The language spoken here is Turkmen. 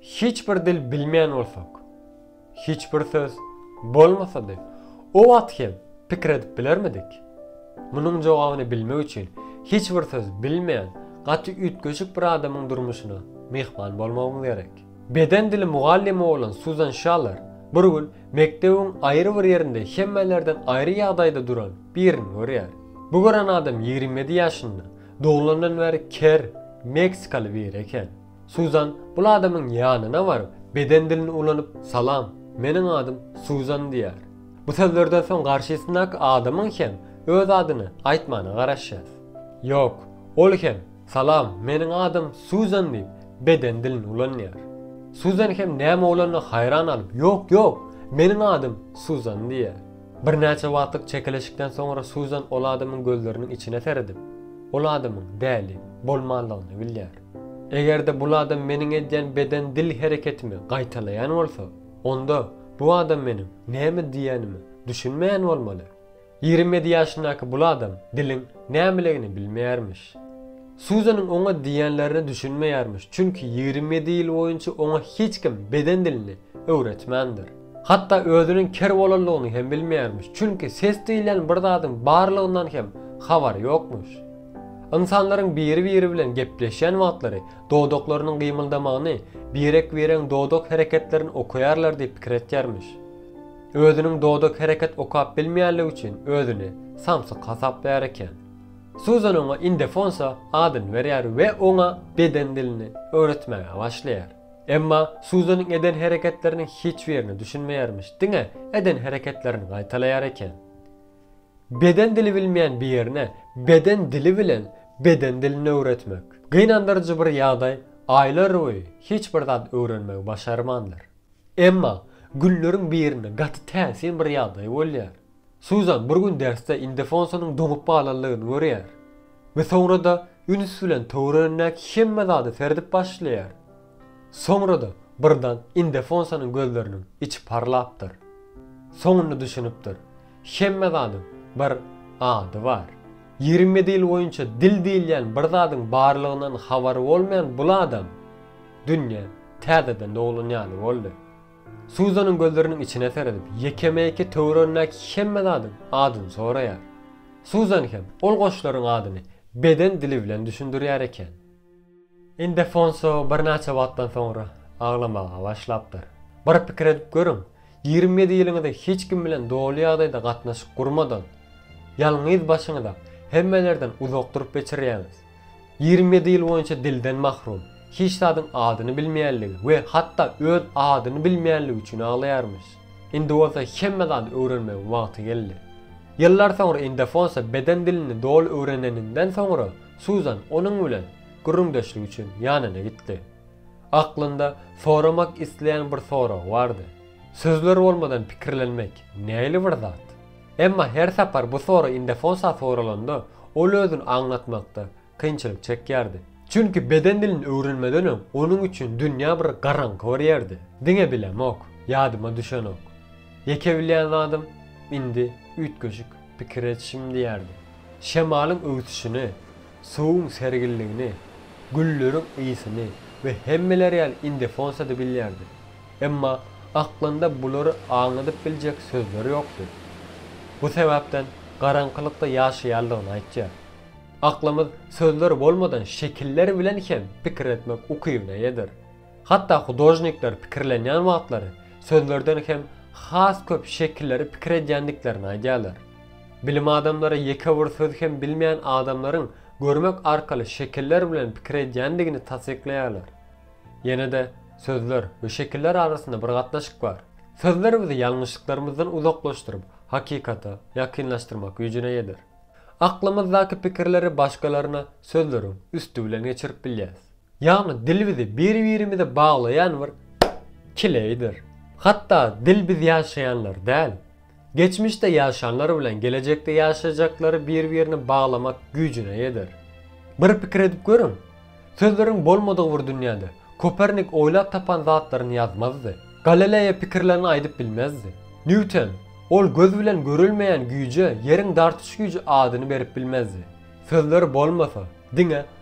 Hiç bir dil bilmeýän bolsak, hiç bir söz bolmasady, o wagt hem pikir edip bilermidik? Munuň jogabyny bilmek üçin hiç bir söz bilmeýän gaty üýtgeşik bir adamyň durmuşyna myhman bolmagymyz gerek. Beden dili mugallymy bolan Suzan Şaller bir gün mekdebiň aýry bir ýerinde hemmelerden aýry ýagdaýda duran birini görýär. Bu gören adam ýigrimi ýedi ýaşynda, doglandan bäri ker, meksikaly biri eken. Suzan bul adamyň ýanyna baryp, beden dilini ulanyp, Salam, meniň adym Suzan diýýär. Bu sözlerden soň garşysyndaky adamyň hem öz adyny aýtmagyna garaşýas. Ýok, ol hem Salam, meniň adym Suzan diýip, beden dilini ulanýar. Suzan hem näme bolanyna haýran galyp, Ýok, ýok, meniň adym Suzan diýýär. Birnäçe wagtlyk çekeleşikden soňra Suzan ol adamyň gözleriniň içine seredip, ol adamyň däli bolmanlygyny bilýär. Eger-de bul adam meniň edýän beden-dil hereketimi gaýtalaýan bolsa, onda bu adam meniň näme diýýänime düşünmeýän bolmaly. Ýigrimi ýedi ýaşyndaky bul adam diliň nämeligini bilmeýärmiş. Suzanyň oňa diýýänlerine düşünmeýärmiş, çünki ýigrimi ýedi ýyl boýunça oňa hiç kim beden dilini öwretmändir. Hatda özüniň ker bolanlygyny hem bilmeýärmiş, çünki ses diýilýän bir zadyň barlygyndan hem habary ýokmuş. Ynsanlaryň biri-biri bilen gepleşýän wagtlary dodaklarynyň gymyldamagyny, birek-biregiň dodak hereketlerini okaýarlar diýip pikir etýärmiş. Özüniň dodak hereket okap bilmeýänligi üçin özüni samsyk hasaplaýar eken. Suzan oňa indefonsa adyny berýär we oňa beden dilini öwretmäge başlaýar. Emma Suzanyň eden hereketleriniň hiç birine düşünmeýärmiş, diňe eden hereketlerini gaýtalaýar eken. Beden dili bilmeýän birine beden dili bilen beden dilini öwretmek. Gynandyryjy bir ýagdaý, aýlarboýy hiç bir zat öwrenmegi başarmandyr. Emma günleriň birinde gaty täsin bir ýagdaý bolýar. Suzan bir gün dersde Indefonsanyň doňup galanlygyny görýär we soňra-da üns bilen töweregindäki hemme zada serdip başlaýar. Soňra-da birdan Indefonsanyň gözleriniň içi parlapdyr. Soňunda düşünipdir. Hemme zadyň bir ady bar. Ýigrimi dil boýunça dil diýilýän bir zadyň barlygyndan habary bolmaýan bul adam dünýä täzeden doglan ýaly boldy. Suzanyň gözleriniň içine seredip, ýekeme-ýeke töweregindäki hemme zadyň adyny soraýar. Suzan hem ol goşlaryň adyny beden dili bilen düşündirýär eken. Ildefonso birnäçe wagtdan soňra aglamaga başlapdyr. Bir pikir edip görüň, ýigrimi ýedi ýylyňyzy hiç kim bilen doly ýagdaýda gatnaşyk gurmadan, ýalňyz başyňyza hemmelerden uzak durup geçirýäňiz. Ýigrimi ýedi ýyl boýunça dilden mahrum, hiç zadyň adyny bilmeýänligi we hatda öz adyny bilmeýänligi üçin aglaýarmyş. Indi bolsa hemme zady öwrenmegiň wagty geldi. Ýyllar soňra Ildefonso beden dilini doly öwreneninden soňra Suzan onuň bilen gürrüňdeşlik üçin ýanyna gitdi. Aklynda soramak isleýän bir soragy bardy. Sözler bolmadan pikirlenmek nähili bir zat? Emma her sapar bu sorag Indefonsa soralanda, ol özüni aňlatmakda kynçylyk çekýärdi. Çünki beden dilini öwrenmeden öň onuň üçin dünýä bir garaňky bir ýerdi. Diňe bilemok, ýadyma düşenok. Ýeke bilýän zadym, indi üýtgeşik. Pikir et şim diýerdi. Şemalyň öwsüşini, suwuň sergilligini, gülleriň ysyny we hemmeler ýaly indefonsa-da bilýärdi. Emma aklynda bulary aňladyp biljek sözler ýokdy. Bu sebäpden garaňkylykda ýaşaýandygyny aýtýar. Aklymyz sözler bolmadan şekiller bilen hem pikir etmek ukybyna ýedir. Hatda hudožnikler pikirlenýän wagtlary sözlerden hem has köp şekilleri pikir edýändiklerini aýdýarlar. Bilim adamlary ýeke bir söz hem bilmeýän adamlaryň görmek arkaly şekiller bilen pikir edýändigini tassyklaýarlar. Ýene-de sözler we şekiller arasynda bir gatnaşyk bar. Sözler bizi ýalňyşlyklarymyzdan uzaklaşdyryp, hakykata ýakynlaşdyrmak güýjüne eýedir. Aklymyzdaky pikirleri başgalaryna sözleriň üsti bilen geçirip bilýäris. Ýagny dil bizi bir-birimize baglaýan bir kileýdir. Hatda dil biz ýaşaýanlar däl, geçmişde ýaşanlar bilen gelejekde ýaşajaklary bir-birine baglamak güýjüne ýeter. Bir pikir edip görüň, sözleriň bolmadygy bir dünýäde Kopernik oýlap tapan zatlaryny ýazmazdy. Galeleýa pikirlerini aýdyp bilmezdi. Nýuten, ol göz bilen görülmeýän güýje ýeriň dartyş güýji adyny berip bilmezdi. Sözler bolmasa, diňe